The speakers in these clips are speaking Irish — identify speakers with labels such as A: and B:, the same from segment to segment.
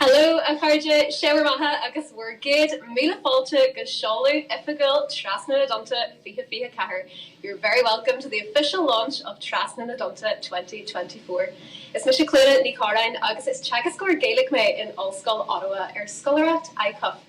A: Hello a chairde, sé bhur mbeatha agus bhur gcéad míle fáilte go seoladh oifigiúil Trasna na dTonnta 2024. You're very welcome to the official launch of Trasna na dTonnta 2024. Is mise Clíodhna Ní Chorráin agus is teagascóir Gaeilge mé in Ollscoil Ottawa ar scoláireacht ICUF.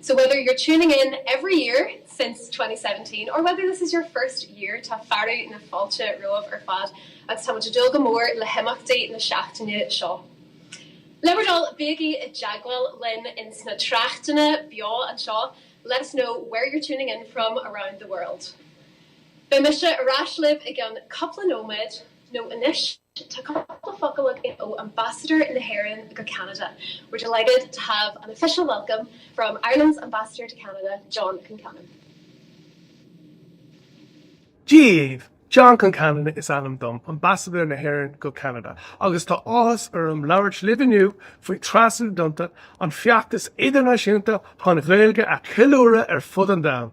A: So whether you're tuning in every year since 2017 or whether this is your first year tá fearadh na fáilte romhaibh ar fad agus tá muid ag dúil go mór le himeachtaí na seachtaine seo. Le bhur dtoil, bígí i dteagmháil linn ins na tráchtanna beo anseo let us know where you're tuning in from around the world. Beidh mise ar ais libh i gceann cupla nóiméad. Nó anois, tá cúpla focal againn ó Ambasadóir na hÉireann go Ceanada, We're delighted to have an official welcome from Ireland's Ambassador
B: to Canada, John Concannon. Dia daoibh, John Concannon is ainm dom, Ambasadóir na hÉireann go Ceanada, agus tá áthas orm labhairt libh inniu faoi Trasna na dTonnta, an feachtas idirnáisiúnta chun Gaeilge a cheiliúradh ar fud an domhain.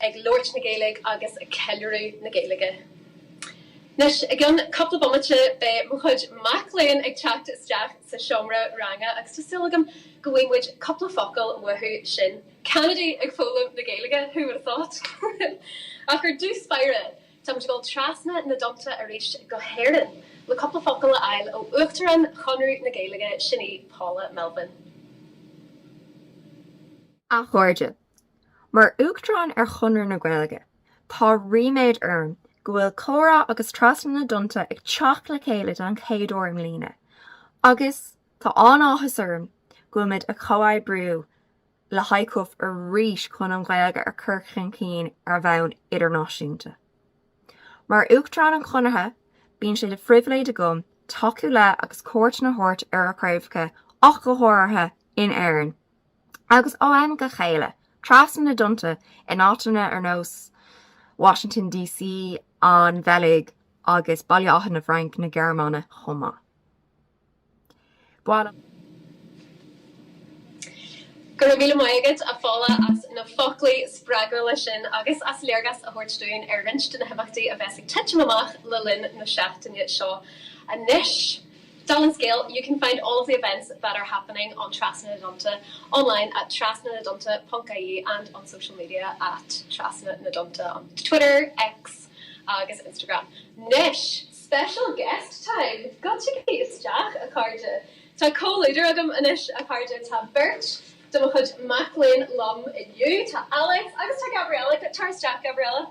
A: ag labhairt na Gaeilge agus ag ceiliúradh na Gaeilge. Anois, i gceann cúpla bomaite, beidh mo chuid mac léinn ag teacht isteach sa seomra ranga agus tá súil agam go bhfaighidh muid cúpla focal uathu sin. Ceanadaigh ag foghlaim na Gaeilge, who would have thought? Ach ar dtús báire, tá muid ag dul trasna na dtonnta arís go hÉirinn, le cúpla focal a fháil ó Uachtarán Chonradh na Gaeilge, sin í Paula Melvin.
C: A chairde, Mar Uachtarán ar Chonradh na Gaeilge, tá ríméad orm go bhfuil Comhrá agus Trasna na dTonnta ag teacht le chéile don chéad uair i mbliana agus tá an-áthas orm go bhfuil muid ag comhoibriú le ICUF arís chun an Ghaeilge a chur chun cinn ar bhonn idirnáisiúnta. Mar Uachtarán an Chonartha, bíonn sé de phribhléid agam tacú le agus cuairteanna a thabhairt ar a chraobhacha ach go háirithe in Éirinn. Agus ó am go chéile, trasna na dtonnta, in áiteanna ar nós Washington DC, an Bheilg, agus Baile Átha na bhFranc na Gearmáine chomh maith. Baineadh.
A: Go raibh míle maith agat, a Phaula, as na foclaí spreagúla sin agus as léargas a thabhairt dúinn ar roinnt de na himeachtaí a bheas ag titim amach le linn na seachtaine seo. Anois. Dála an scéil, You can find all of the events that are happening on Trasna na dTonnta online at trasnanadtonnta.ie and on social media at Trasna na dTonnta on Twitter, X agus Instagram. Nois! Special guest time! Goitsigí isteach, a chairde! Tá comhluadar agam anois, a chairde. Tá beirt de mo chuid mac léinn liom inniu. Tá Alex agus tá Gabriella. Tar isteach, Gabriella.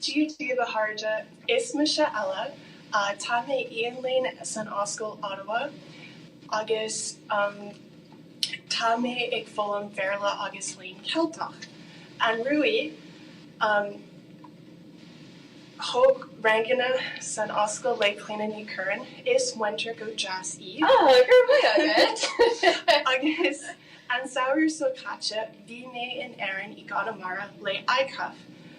A: Dia daoibh
D: a chairde, is mise Ella, tá mé ag léinn san Ollscoil Ottawa agus tá mé ag foghlaim Bhéarla agus Léinn Ceilteach. Anuraidh, thóg ranganna san Ollscoil le Clíona Ní Chorráin, is múinteoir go deas í. Go raibh
A: maith agat! Agus
D: an samhradh seo caite, bhí mé in Éirinn i gConamara le ICUF,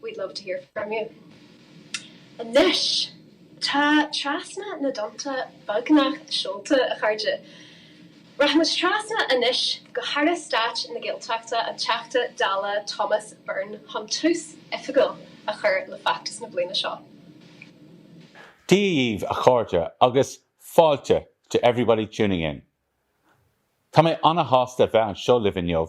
A: We'd love to hear from you. Anois, tá Trasna na dTonnta beagnach seolta, a chairde. Rachaimis trasna anois go hAire Stáit na Gaeltachta, an Teachta Dála Thomas Byrne, chun tús oifigiúil a chur le feachtas na bliana seo.
E: Dia dhaoibh a chairde agus fáilte to everybody tuning in. Tá mé ana-shásta bheith anseo libh inniu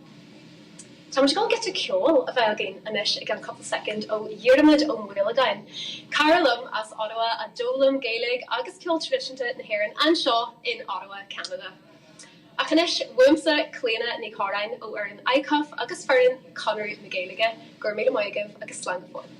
A: Táimid ag goil giota ceoil a bheith againn anois i gceann cupla soicind ó Dhiarmuid Ó Maolagáin, cara liom as Ottawa a d'fhoghlaim Gaeilge agus ceol tradisiúnta na hÉireann anseo in Ottawa, Ceanada. Ach anois uaimse, Clíona Ní Chorráin ó fhoireann ICUF agus foireann Chonradh na Gaeilge, gura míle maith agaibh agus slán go fóill.